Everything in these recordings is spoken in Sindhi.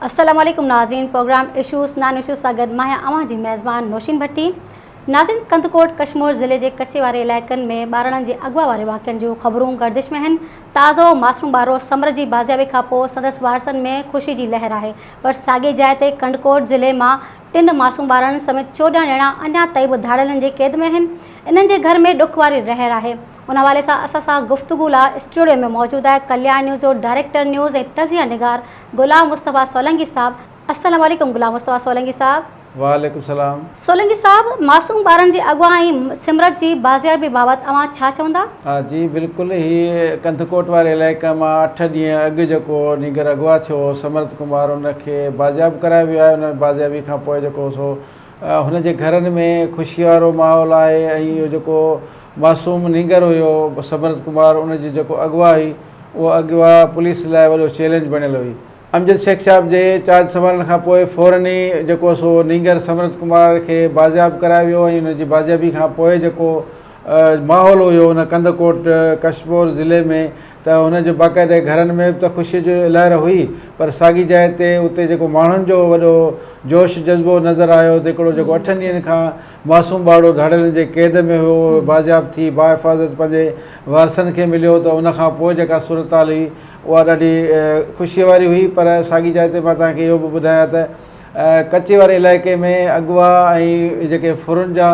السلام عليڪم ناظرين پروگرام اشوز نان اشوز سان گڏ مان آهيان اوهان جي ميزبان نوشين ڀٽي ناظرين ڪنڌڪوٽ ڪشمور ضلعي جي ڪچي واري علائقن ۾ ٻارڙن جي اغوا واري واقعن جون خبرون گردش ۾ آهن تازو معصوم ٻارڙو سمر جي بازيابي کانپوء سندس وارثن ۾ خوشي جي لهر آهي پر ساڳي جاء تي ڪنڊڪوٽ ضلعي مان ٽن معصوم ٻارڙن سميت چوڏهن ڄڻا اڃا تائين به ڌاڙيلن جي قيد ۾ آهن، انهن جي گهر ۾ ڏک واري رهر آهي، ان حوالي سان اسان سان گفتگو لا اسٽوڊيو ۾ موجود آهي ڪليان نيوز جو ڊائريڪٽر نيوز ۽ تجزيه نگار غلام مصطفيٰ سولنگي صاحب، السلام عليڪم غلام مصطفيٰ سولنگي صاحب. وعليڪم السلام. سولنگي صاحب معصوم ٻارن جي اغوا ۽ سمرت جي بازيابي بابت اوهان ڇا چوندا؟ ها جي بلڪل هي ڪنڌڪوٽ واري علائقي مان اٺ ڏينهن اڳ جيڪو نينگر اغوا ٿيو هو سمرت ڪمار ان کي بازياب ڪرايو ويو آهي ان بازيابي کان پوء جيڪو سو هن جي گهرن ۾ خوشي وارو ماحول آهي ۽ اهو جيڪو معصوم نينگر هيو سمرت ڪمار ان جي جيڪو اغوا هئي اهو اغوا پوليس لاء وڏو چيلينج بڻيل هئي امجد شيخ صاحب جي چارج سنڀالڻ کان پوء فورن ئي جيڪو سو نينگر سمرت ڪمار کي بازياب ڪرايو ويو ۽ ان جي بازيابي کان پوء جيڪو ماحول هيو ان ڪنڌڪوٽ ڪشمور ضلعي ۾ ته هن جو باقاعده گهرن ۾ به ته خوشي جو لهر هئي پر ساڳي جاء تي اتي جيڪو ماڻهن جو وڏو جوش جذبو نظر آيو ته هڪڙو جيڪو اٺن ڏينهن کان معصوم ٻارڙو ڌاڙيلن جي قيد ۾ هيو، اهو بازياب ٿي باحفاظت پنهنجي وارثن کي مليو ته ان کان پوء جيڪا صورتحال هئي اها ڏاڍي خوشيء واري هئي پر ساڳي جاء تي مان توهان کي اهو به ٻڌايان ته ڪچي واري علائقي ۾ اغوا ۽ جيڪي ڦرن جا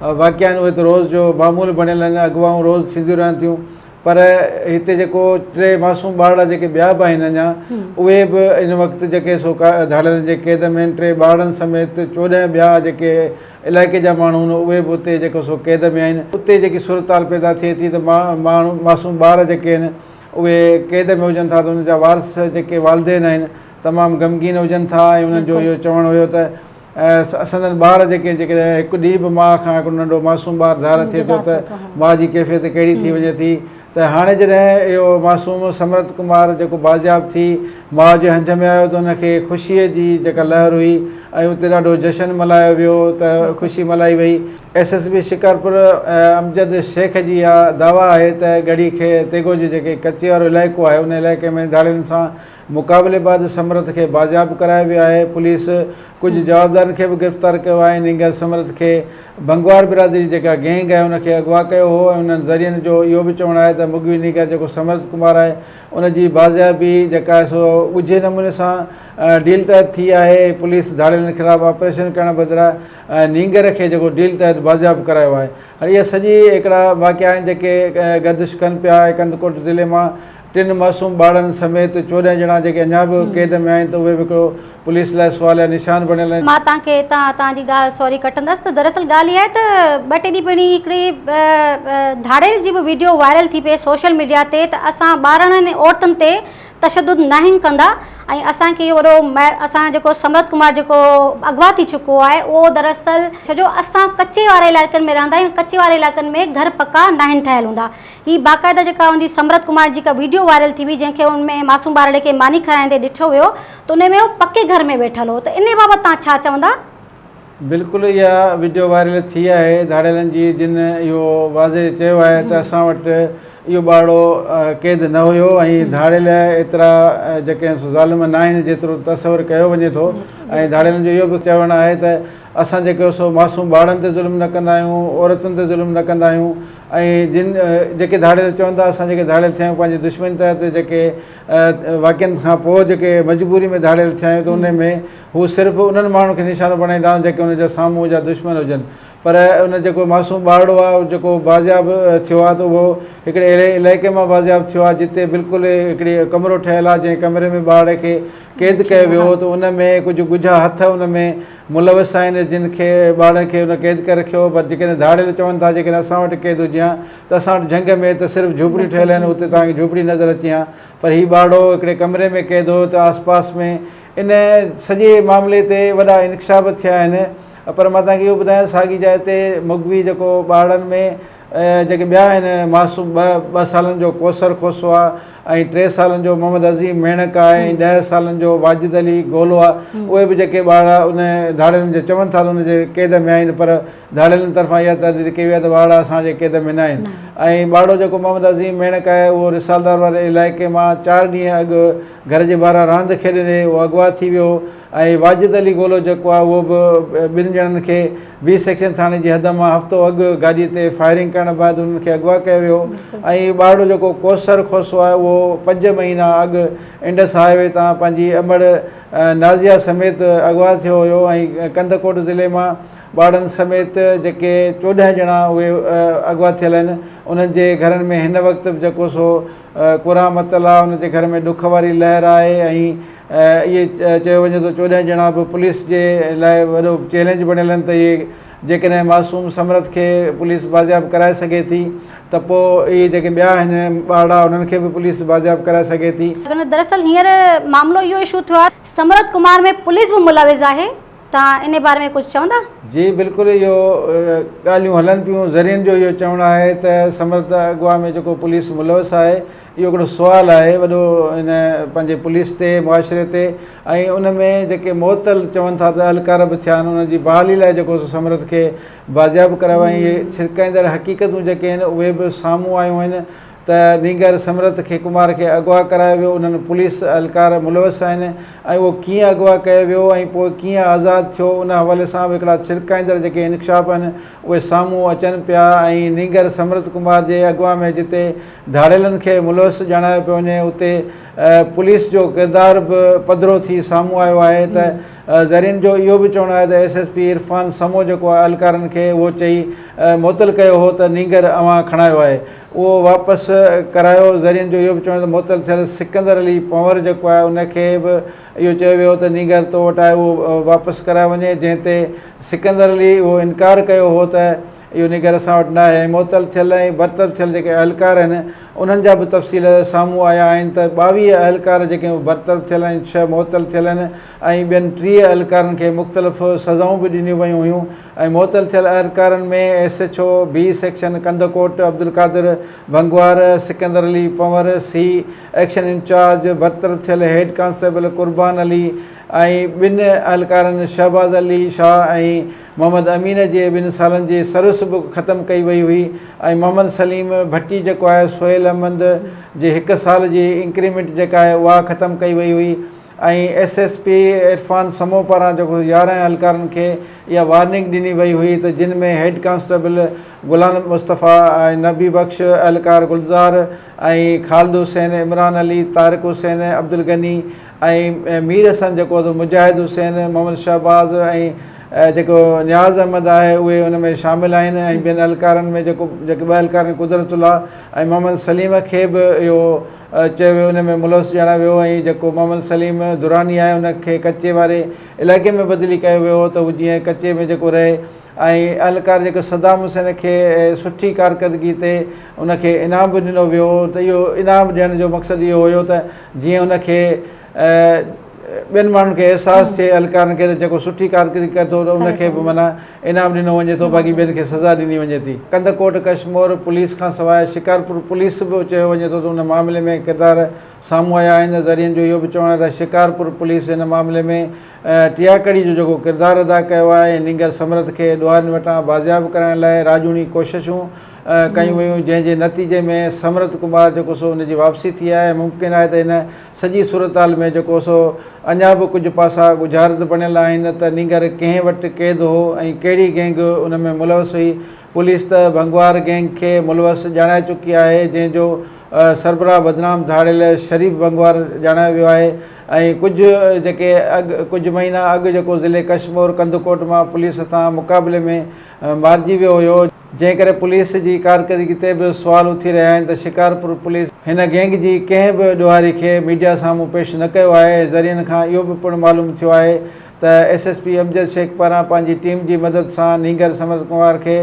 واقعا آهن اهي ته روز جو معمول بڻيل آهن، اغوائون روز ٿينديون رهن ٿيون. پر هتي جيڪو ٽي معصوم ٻارڙا جيڪي ٻيا به آهن اڃا اهي به ان وقت جيڪي سو ڌاڙيلن جي قيد ۾ آهن ٽي ٻارڙن سميت چوڏهن ٻيا جيڪي علائقي جا ماڻهو آهن اهي به اتي جيڪو سو قيد ۾ آهن اتي جيڪي صورتحال پيدا ٿئي ٿي ته ماڻهو معصوم ٻار جيڪي آهن اهي قيد ۾ هجن ٿا ته ان جا وارث جيڪي والدين آهن تمام غمگين هجن ٿا ۽ انهن جو اهو چوڻ هيو ته ۽ سندن ٻار جيڪي جيڪڏهن هڪ ڏينهن به ماء کان هڪڙو ننڍو معصوم ٻار ڌار ٿئي ٿو ته ماء جي ڪيفيت ڪهڙي ٿي وڃي ٿي ته هاڻي جڏهن اهو معصوم سمرت ڪمار جيڪو بازياب ٿي ماء جي هنج ۾ آيو ته ان کي خوشيء جي جيڪا لهر هئي ۽ اتي ڏاڍو جشن ملهايو ويو ته خوشي ملهائي وئي. S S P Shikarpur Amjad Shaikh جي اها دعويٰ آهي ته ڳڙهي کي تيغو جي جيڪي ڪچي وارو علائقو آهي ان علائقي ۾ ڌاڙيلن سان مقابلي بعد سمرٿ کي بازياب ڪرايو ويو آهي، پوليس ڪجهه جوابدارن کي به گرفتار ڪيو آهي، انهن گيل سمرٿ کي بنگوار برادري جيڪا گينگ آهي ان کي اغوا ڪيو هو ۽ انهن ذريعن جو اهو به چوڻ آهي ته مغوي نينگر جيڪو سمرٿ ڪمار آهي ان جي بازيابي جيڪا آهي سو ڳجهي نموني سان ڊيل تحت ٿي آهي، پوليس ڌاڙيلن خلاف آپريشن ڪرڻ بدران نينگر کي جيڪو ڊيل تحت بازياب ڪرايو آهي، اهي سڄي هڪڙا واقعا آهن جيڪي گردش ڪن پيا ۽ ڪنڌڪوٽ ضلعي مان ٽن معصوم ٻارڙن سميت چوڏهن ڄڻا جيڪي اڃا به قيد ۾ آهن ته اهي به هڪڙو پوليس لاء سواليا نشان بڻيل آهن. مان توهان کي هتان توهان جي ڳالهه سوري ڪٽندس ته دراصل ڳالهه اها آهي ته ٻه ٽي ڏينهن پهرين هڪڙي ڌاڙيل جي به ويڊيو وائرل ٿي پئي سوشل ميڊيا تي ته اسان ٻارڙن ۽ عورتن تي تشدد ناهن ڪندا ۽ اسان کي وڏو اسان جيڪو سمرت ڪمار جيڪو اغوا ٿي چڪو آهي اهو دراصل ڇو جو اسان ڪچي واري علائقن ۾ رهندا آهيون ڪچي واري علائقن ۾ گهر پڪا ناهن ٺهيل هوندا هي باقاعده جيڪا ان جي سمرت ڪمار جي ڪا ويڊيو وائرل ٿي هئي جنهن کي ان ۾ معصوم ٻارڙي کي ماني کارائيندي ڏٺو ويو ته ان ۾ هو پڪي گهر ۾ ويٺل هو ته انهي بابت توهان ڇا چوندا؟ بلڪل اها وڊيو وائرل ٿي آهي ڌاڙيلن جي جن اهو واضح چيو آهي ته اسان وٽ اهو ٻارڙو قيد نه هيو ۽ ڌاڙيل ايترا جيڪي ظالم نه آهن جيترو تصور ڪيو وڃي ٿو ۽ ڌاڙيلن جو اهو به چوڻ آهي ته اسان جيڪو سو معصوم ٻارڙن تي ظلم نه ڪندا آهيون عورتن تي ظلم نه ڪندا آهيون ۽ جن جيڪي ڌاڙيل چون ٿا اسان جيڪي ڌاڙيل ٿيا آهيون پنهنجي دشمن تحت جيڪي واقعن کان پوء جيڪي مجبوري ۾ ڌاڙيل ٿيا آهيون ته ان ۾ هو صرف انهن ماڻهن کي نشانو بڻائيندا آهن جيڪي ان جا سامهون جا دشمن هجن پر ان جيڪو معصوم ٻارڙو آهي جيڪو بازياب ٿيو آهي ته اهو هڪڙي اهڙي علائقي مان بازياب ٿيو آهي جتي بلڪل هڪڙي ڪمرو ٺهيل آهي جنهن ڪمري ۾ ٻارڙي کي قيد ڪيو ويو هو ته ان ۾ ڪجهه ڳجها هٿ ان ۾ ملوث آهن جن کي ٻارڙن کي ان قيد ڪري رکيو پر جيڪڏهن ڌاڙيل چون ٿا جيڪڏهن اسان وٽ قيد هجي هان ته اسان وٽ جهنگ ۾ ته صرف جهوپڙيون ٺهيل آهن اتي توهان کي جهوپڙي نظر اچي هان پر هي ٻارڙو هڪڙي ڪمري ۾ قيد هو ته آس پاس ۾ ان سڄي معاملي تي وڏا انڪشاف به ٿيا آهن پر مان توهان کي اهو ٻڌايان ساڳي جاء تي مغوي جيڪو ٻارڙن ۾ جيڪي ٻيا آهن معصوم ٻه ٻه سالن جو ڪوثر کوسو آهي ۽ ٽي سالن جو محمد عظيم ميڻڪ آهي ۽ ڏهه سالن جو واجد علي گولو آهي اهي به جيڪي ٻارڙا ان ڌاڙيلن جي چون ٿا ته ان جي قيد ۾ آهن پر ڌاڙيلن طرفان اها تحرير ڪئي وئي آهي ته ٻارڙا اسان جي قيد ۾ نه آهن ۽ ٻارڙو جيڪو محمد عظيم ميڻڪ آهي اهو رسالدار واري علائقي مان چار ڏينهن اڳ گهر جي ٻاهران راند کيڏندي اهو اغوا ٿي ويو هو ۽ واجد علي گولو جيڪو آهي اهو به ٻن ڄڻن کي بي سيڪشن ٿاڻي جي حد مان هفتو اڳ گاڏي تي فائرنگ ڪرڻ بعد انهن کي اغوا ڪيو ويو ۽ ٻارڙو جيڪو ڪوثر کوسو آهي اهو پنج مهينا اڳ انڊس هاء وي تان پنهنجي امڙ نازيا سميت اغوا ٿيو هيو ۽ ڪنڌڪوٽ ضلعي مان ٻارڙن سميت جيڪي چوڏهن ڄڻا اهي اغوا ٿيل آهن انهن جي گهرن ۾ هن وقت به جيڪو سو ڪرامت الله ان جي گهر ۾ ڏک واري لهر آهي ۽ اهي چيو وڃي ٿو چوڏهن ڄڻا به پوليس جي لاء وڏو چئلينج بڻيل آهن ته اهي جيڪڏهن معصوم سمرٿ کي پوليس بازياب ڪرائي سگهي ٿي ته پوء اهي جيڪي ٻيا آهن ٻارڙا انهن کي به پوليس بازياب ڪرائي سگهي ٿي. دراصل هينئر معاملو اهو اشو ٿيو آهي ته سمرٿ ڪمار ۾ پوليس به ملوث آهي توهان ان باري ۾ ڪجهه چوندا؟ جي بلڪل اهو ڳالهيون هلن پيون ذريعن جو اهو چوڻ آهي ته سمرت اغوا ۾ جيڪو پوليس ملوث آهي اهو هڪڙو سوال آهي وڏو ان پنهنجي پوليس تي معاشري تي ۽ ان ۾ جيڪي معطل چون ٿا ته اهلڪار به ٿيا آهن انهن جي بحالي لاء جيڪو سو سمرت کي بازياب ڪرايو ۽ اهي ڇرڪائيندڙ حقيقتون جيڪي آهن اهي به سامهون آيون آهن ته نينگر سمرٿ کي ڪمار کي اغوا ڪرايو ويو انهن پوليس اهلڪار ملوث آهن ۽ اهو ڪيئن اغوا ڪيو ويو ۽ پوء ڪيئن آزاد ٿيو ان حوالي سان به هڪڙا ڇرڪائيندڙ جيڪي انڪشاف آهن اهي سامهون اچن پيا ۽ نينگر سمرٿ ڪمار جي اغوا ۾ جتي ڌاڙيلن کي ملوث ڄاڻايو پيو وڃي اتي پوليس جو ڪردار به پڌرو ٿي سامهون آيو آهي ته ذريعن جو اهو به چوڻ آهي ته S S P Irfan Samo جيڪو اهلڪارن کي اهو چئي معطل ڪيو هو ته نينگر اوهان کڻايو آهي اهو واپس ڪرايو ذريعن جو اهو به چوڻ هو ته معطل ٿيل سڪندر علي پنور جيڪو آهي ان کي به اهو چيو ويو هو ته نينگر تو وٽ آهي اهو واپس ڪرايو وڃي جنهن تي سڪندر علي اهو انڪار ڪيو هو ته اهو نينگر اسان وٽ ناهي ۽ معطل ٿيل ۽ برطرف ٿيل جيڪي اهلڪار آهن انهن جا به تفصيل سامهون آيا آهن ته ٻاويهه اهلڪار جيڪي اهي برطرف ٿيل آهن ڇهه معطل ٿيل آهن ۽ ٻين ٽيهه اهلڪارن کي مختلف سزائون به ڏنيون ويون هيون ۽ معطل ٿيل اهلڪارن ۾ S H O B section Kandhkot Abdulqadir Bhangwar, Sikandar Ali Panhwar, C action incharge برطرف ٿيل هيڊ ڪانسٽيبل قربان علي ۽ ٻن اهلڪارن شهباز علي شاهه ۽ محمد امين جي ٻن سالن جي سروس به ختم ڪئي وئي هئي ۽ محمد سليم ڀٽي جيڪو آهي سهيل احمد جي هڪ سال جي انڪريمينٽ جيڪا آهي اها ختم ڪئي وئي هئي. ۽ S S P Irfan Samoon پاران جيڪو يارهن اهلڪارن کي اها وارننگ ڏني وئي هئي ته جن ۾ هيڊ ڪانسٽيبل غلام مصطفيٰ، نبي بخش، اهلڪار گلزار ۽ خالد حسين، عمران علي، طارق حسين، عبدالغني ۽ مير حسن جيڪو ته مجاهد حسين، محمد شهباز ۽ جيڪو نياز احمد آهي اهي ان ۾ شامل آهن ۽ ٻين اهلڪارن ۾ جيڪو جيڪي ٻه اهلڪارن قدرت الله ۽ محمد سليم کي به اهو چيو ويو ان ۾ ملوث ڄاڻايو ويو ۽ جيڪو محمد سليم دراني آهي ان کي ڪچي واري علائقي ۾ بدلي ڪيو ويو هو ته هو جيئن ڪچي ۾ جيڪو رهي ۽ اهلڪار جيڪو صدام حسين کي سٺي ڪارڪردگي تي ان کي انعام به ڏنو ويو هو ته اهو انعام ڏيڻ جو مقصد اهو هيو ته جيئن ان کي ٻين ماڻهن کي احساس ٿئي اهلڪارن کي ته جيڪو سٺي ڪارڪردگي ڪري ٿو ته ان کي به معنيٰ انعام ڏنو وڃي ٿو باقي ٻين کي سزا ڏني وڃي ٿي ڪنڌڪوٽ ڪشمور پوليس کان سواء شڪارپور پوليس به چيو وڃي ٿو ته ان معاملي ۾ ڪردار سامهون آيا آهن ذريعن جو اهو به چوڻ آهي ته شڪارپور پوليس ان معاملي ۾ ٽياڪڙي جو جيڪو ڪردار ادا ڪيو آهي ۽ نينگر سمرٿ کي ڏوهارين وٽان بازياب ڪرائڻ لاء راڄوڻي ڪوششون ڪيون ويون جنهن جي نتيجي ۾ سمرٿ ڪمار جيڪو سو ان جي واپسي ٿي آهي ممڪن آهي ته ان سڄي صورتحال ۾ جيڪو سو اڃا به ڪجهه پاسا ڳجهارت بڻيل آهن ته نينگر ڪنهن وٽ قيد هو ۽ ڪهڙي گينگ ان ۾ ملوث هئي، پوليس ته ڀنگوار گينگ کي ملوث ڄاڻائي چڪي آهي جنهن جو سربراهه بدنام ڌاڙيل شريف ڀنگوار ڄاڻايو ويو آهي ۽ ڪجهه جيڪي اڳ ڪجهه مهينا اڳ جيڪو ضلعي ڪشمور ڪنڌڪوٽ مان پوليس هٿان مقابلي ۾ مارجي ويو هيو. جنهن ڪري پوليس جي ڪارڪردگي تي به سوال اٿي رهيا آهن ته شڪارپور پوليس هن گينگ جي ڪنهن به ڏوهاري کي ميڊيا سامهون پيش نه ڪيو آهي، ذريعن کان اهو به پڻ معلوم ٿيو آهي ته S S P Amjad Shaikh پاران پنهنجي ٽيم جي مدد سان نينگر سمرت ڪنوار کي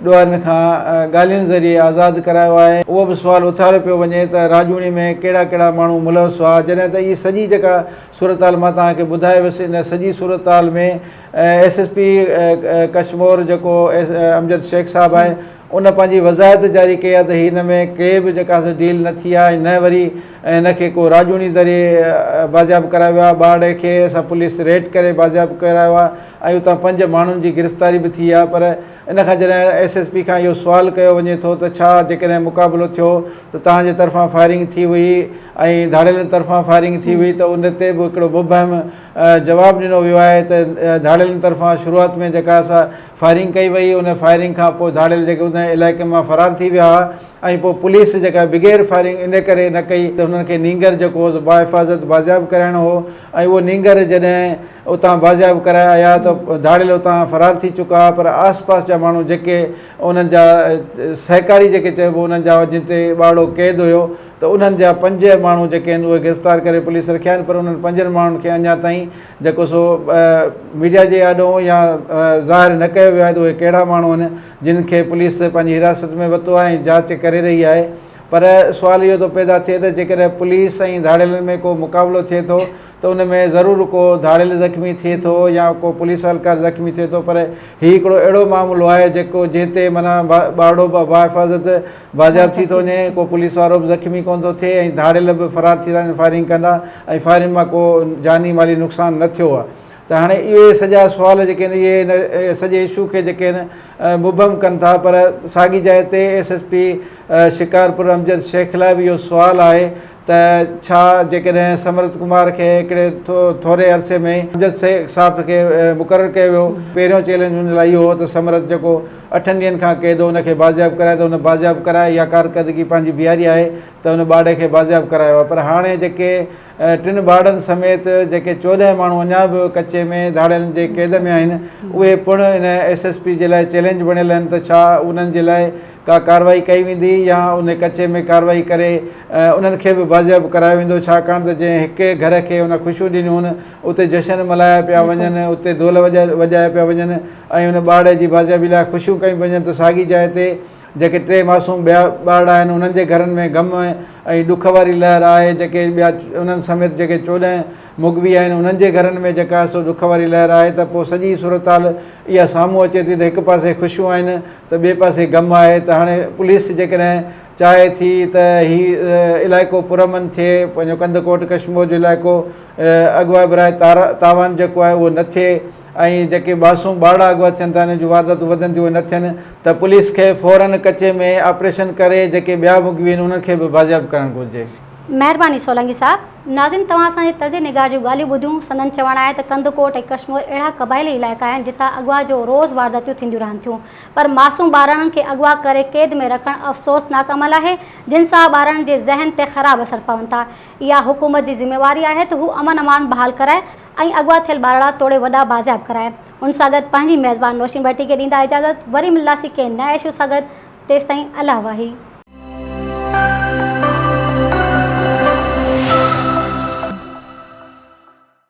ڏوهارين کان ڳالهين ذريعي آزاد ڪرايو آهي. اهو به سوال اٿاريو پيو وڃي ته راڄوڻي ۾ ڪهڙا ڪهڙا ماڻهو ملوث هئا جڏهن ته اهي سڄي جيڪا صورتحال مان توهان کي ٻڌائي ويس ان سڄي صورتحال ۾ ايس ايس پي ڪشمور جيڪو امجد شيخ صاحب آهي ان پنهنجي وضاحت جاري ڪئي آهي ته هي هن ۾ ڪي به جيڪا ڊيل نه ٿي آهي نه وري هن کي ڪو راڄوڻي دري بازياب ڪرايو ويو آهي ٻارڙي کي اسان پوليس ريڊ ڪري بازياب ڪرايو آهي ۽ اتان پنج ماڻهن جي گرفتاري به ٿي آهي پر ان کان جڏهن ايس ايس پي کان اهو سوال ڪيو وڃي ٿو ته ڇا جيڪڏهن مقابلو ٿيو ته توهان جي طرفان فائرنگ ٿي هئي ۽ ڌاڙيلن طرفان فائرنگ ٿي هئي ته ان تي به هڪڙو مبهم جواب ڏنو ويو آهي ته ڌاڙيلن طرفان شروعات ۾ جيڪا اسا فائرنگ ڪئي وئي ان فائرنگ کان پوء ڌاڙيل جيڪي ان علائقي مان فرار ٿي ويا ها ۽ پوء پوليس جيڪا بغير فائرنگ ان ڪري نه ڪئي ته انهن کي نينگر جيڪو هو با حفاظت بازياب ڪرائڻو هو ۽ اهو نينگر جڏهن اتان بازياب ڪرايا آيا ته ڌاڙيل اتان فرار ٿي چڪا ها پر آس پاس جا ماڻهو جيڪي انهن جا سهڪاري جيڪي چئبو انهن جا جتي ٻارڙو قيد هيو ته انهن جا پنج ماڻهو جيڪي آهن اهي گرفتار ڪري پوليس رکيا آهن پر انهن پنجن ماڻهن کي اڃا تائين جيڪو سو ميڊيا جي آڏو يا ظاهر نه ڪيو ويو آهي ته اهي ڪهڙا ماڻهو آهن جن کي پوليس پنهنجي حراست ۾ ورتو آهي ۽ جاچ ڪري رهي آهي پر سوال اهو ٿو پيدا ٿئي ته جيڪڏهن پوليس ۽ ڌاڙيلن ۾ ڪو مقابلو ٿئي ٿو ته ان ۾ ضرور ڪو ڌاڙيل زخمي ٿئي ٿو يا ڪو پوليس اھلڪار زخمي ٿئي ٿو پر ھي ھڪڙو اھڙو معاملو آھي جيڪو جنھن تي معنيٰ ٻارڙو به باحفاظت بازياب ٿي ٿو وڃي ڪو پوليس وارو به زخمي ڪونه ٿو ٿئي ۽ ڌاڙيل به فرار ٿي ٿا وڃن فائرنگ ڪندا ۽ فائرنگ مان ڪو جاني مالي نقصان نه ٿيو آھي ته ھاڻي اھي سڄا سوال جيڪي آھن اھي ان سڄي اشو کي جيڪي آھن مبھم ڪن ٿا پر ساڳي جاء تي S S P Shikarpur Amjad Shaikh لاء به اھو سوال آھي ته ڇا جيڪڏهن سمرت ڪمار کي هڪڙي ٿوري عرصي ۾ ئي امجد شيخ صاف کي مقرر ڪيو ويو. پهريون چئلينج ان لاء اهو هو ته سمرت جيڪو اٺن ڏينهن کان قيد هو ان کي بازياب ڪرائي ته هن بازياب ڪرائي يا ڪارڪردگي پنهنجي بيهاري آهي ته هن ٻاڙي کي بازياب ڪرايو آهي پر هاڻي جيڪي ٽن ٻاڙن سميت جيڪي چوڏهن ماڻهو اڃا به ڪچي ۾ ڌاڙيلن جي قيد ۾ آهن اهي پڻ ان ايس ايس پي جي لاء چئلينج بڻيل آهن ته ڇا انهن جي لاء ڪا ڪارروائي ڪئي ويندي يا ان ڪچي ۾ ڪارروائي ڪري انهن کي به بازياب ڪرايو ويندو ڇاڪاڻ ته جنهن هڪ گهر کي ان خوشيون ڏنيون اتي جشن ملهايا پيا وڃن اتي دول وڄايا پيا وڃن ۽ ان ٻارڙي جي بازيابي لاء خوشيون ڪيون پيون وڃن ته ساڳي جاء تي جيڪي ٽي معصوم ٻيا ٻارڙا آهن انهن جي گهرن ۾ غم ۽ ڏک واري لهر آهي جيڪي ٻيا انهن سميت جيڪي چوڏهن مغوي آهن انهن جي گهرن ۾ جيڪا سو ڏک واري لهر آهي ته پوء سڄي صورتحال اها سامهون اچي ٿي ته هڪ پاسي خوشيون آهن ته ٻئي پاسي غم آهي ته هاڻي پوليس جيڪڏهن چاهي ٿي ته هي علائقو پرامن ٿئي پنهنجو ڪنڌڪوٽ ڪشمور جو علائقو اغوا براء تاوان جيڪو آهي اهو نه ٿئي ۽ جيڪي ٻاسون ٻارڙا اغوا ٿين ٿا انهن جون وارداتون وڌن ٿيون اهي نه ٿين ته پوليس کي فورن ڪچي ۾ آپريشن ڪري جيڪي ٻيا مغوي آهن انهن کي به بازياب ڪرڻ گهرجي. مهرباني سولنگي صاحب. ناظرين توهان اسان جي طرز نگار جون ڳالهيون ٻڌيون، سندن چوڻ آهي ته ڪنڌڪوٽ ۽ ڪشمور اهڙا قبائلي علائقا آهن جتان اغوا جو روز وارداتيون ٿينديون رهن ٿيون پر معصوم ٻارڙن کي اغوا ڪري قيد ۾ رکڻ افسوسناڪ عمل آهي جن سان ٻارڙن جي ذهن تي خراب اثر پون ٿا اها حڪومت جي ذميواري آهي ته هو امن امان بحال ڪرائي ۽ اغوا ٿيل ٻارڙا توڙي وڏا بازياب ڪرائي ان سان گڏ پنهنجي ميزبان نوشين ٻهٽي کي ڏيندا اجازت وري ملنداسين ڪنهن نئين اشو سان گڏ. تيستائين الله واهي.